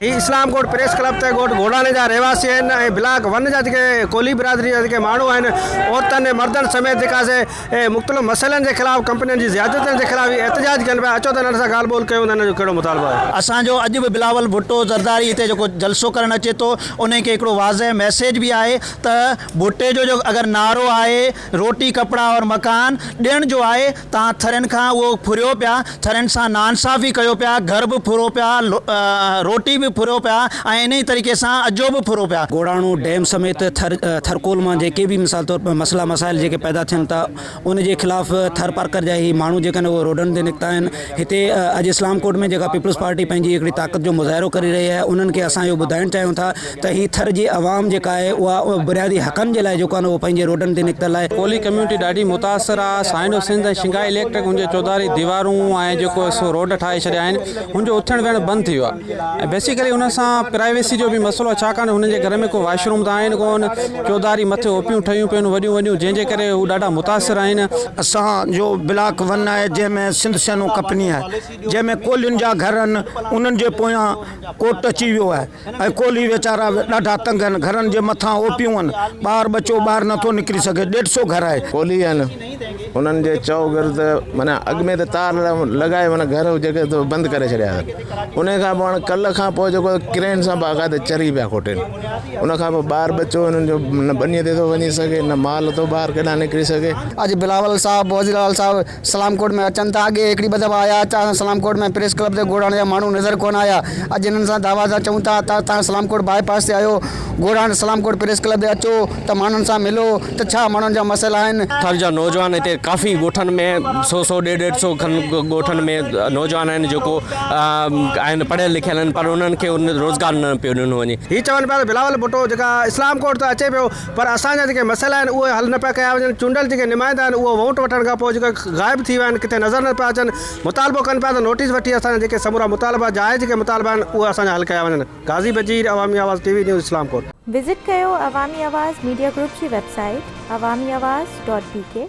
هي Islamkot press club تي ڳوٺ گهوڙاڻي جا رهواسي آهن ۽ بلاڪ ون جا جيڪي ڪولهي برادري جا جيڪي ماڻهو آهن عورتن ۽ مردن سميت جيڪا سي مختلف مسئلن جي خلاف ڪمپنين جي زيادتين جي خلاف هي احتجاج ڪن پيا اچو ته هنن سان ڳالهه ٻولهه ڪيون ته هنن جو ڪهڙو مطالبو آهي. اسان جو اڄ به بلاول ڀٽو زرداري هتي جيڪو جلسو ڪرڻ اچي ٿو انهي کي هڪڙو واضح ميسيج به آهي ته ڀٽي جو اگر نعرو آهي روٽي ڪپڙا اور مڪان ڏيڻ جو آهي تان ٿرين کان اهو ڦريو پيا، ٿرين سان ناانصافي ڪيو پيا، گهر به ڦرو پيا، روٽي به ڦرو پيا ۽ انهيء طريقي سان اجهو به ڦرو پيا. گوڙاڻو ڊيم سميت ٿر ٿرڪول مان جيڪي به مثال طور مسئلا مسائل جيڪي پيدا ٿين ٿا ان جي خلاف ٿر پارڪر جا هي ماڻهو جيڪي آهن اهي روڊن تي نڪتا آهن هتي اڄ اسلام ڪوٽ ۾ جيڪا پيپلز پارٽي پنهنجي هڪڙي طاقت جو مظاهرو ڪري رهي آهي انهن کي اسان اهو ٻڌائڻ چاهيون ٿا ته هي ٿر جي عوام جيڪا آهي اها بنيادي حقن جي لاء جيڪو آهي نه اهو پنهنجي روڊن تي نڪتل آهي. ڪولهي ڪميونٽي ڏاڍي متاثر آ، سائنڊو سنڌ ۽ شنگهائي اليڪٽرڪ هن جي چوڌاري ديوارون ۽ جيڪو سو روڊ ٺاهي ڇڏيا آهن هن جو اٿڻ ويهڻ بند ٿي ويو آ ۽ بيسيڪلي هن سان پرائيويسي جو به مسئلو آ ڇاڪاڻ جو هنن جي گهر ۾ ڪو واش روم ته آهن ڪون چوڌاري مٿي اوپيون ٺهيون پيون وڏيون وڏيون جنهن جي ڪري هو ڏاڍا متاثر آهن. اسان جو بلاڪ ون آهي جنهن ۾ سنڌ سينو ڪپني آهي جنهن ۾ ڪولهين جا گهر آهن انهن جي پويان ڪورٽ اچي ويو آهي. ۽ ڪولهي ويچارا ڏاڍا تنگ هن گهرن جي مٿان اوپيون هن ٻار ٻچو ٻاهر نٿو نڪري سگهي ڏيڍ سو گهر آهي. ڪولهي هن انهن جي چئو گرد معنيٰ اڳ ۾ ته تار لڳائي معنيٰ گهر جيڪي ته بند ڪري ڇڏيا هن انهي کان پوء هاڻي ڪلهه کان پوء جيڪو ڪرين سان باقاعده چري پيا کوٽين ان کان پوء ٻار ٻچو انهن جو نه ٻني تي ٿو وڃي سگهي نه مال ٿو ٻاهر ڪيڏانهن نڪري سگهي. اڄ بلاول صاحب وزيراعليٰ صاحب سلام ڪوٽ ۾ اچن ٿا، اڳي هڪڙي ٻه دفعا آيا، اچا سان سلام ڪوٽ ۾ پريس ڪلب تي گوڙاڻ جا ماڻهو نظر ڪونه آيا، اڄ هنن سان دعويٰ سان چئون ٿا ته توهان سلام ڪوٽ باء پاس تي آهيو، Ghoran Islamkot press club تي اچو ته ماڻهن سان ملو ته ڇا ماڻهن جا مسئلا آهن. ٿر جا نوجوان هتي ڪافي ڳوٺن ۾ سو سو ڏيڍ ڏيڍ سو کن ڳوٺن ۾ نوجوان آهن جيڪو آهن پڙهيل لکيل آهن پر انهن کي روزگار نه پيو ڏنو وڃي. هي چون پيا ته بلاول ڀٽو جيڪا اسلام ڪوٽ ته اچي پيو پر اسان جا جيڪي مسئلا آهن اهي حل نه پيا ڪيا وڃن، چونڊيل جيڪي نمائندا آهن اهي ووٽ وٺڻ کان پوء جيڪي غائب ٿي ويا آهن، ڪٿي نظر نه پيا اچن، مطالبو ڪن پيا ته نوٽيس وٺي اسان جا جيڪي سمورا مطالبا جائز جيڪي مطالبا آهن اهي اسان جا حل ڪيا وڃن. غازي Bajeer, Awami Awaz T V news Islamkot. Visit ڪيو عوامي آواز ميڊيا گروپ جي website Awami Awaz dot بي ڪي.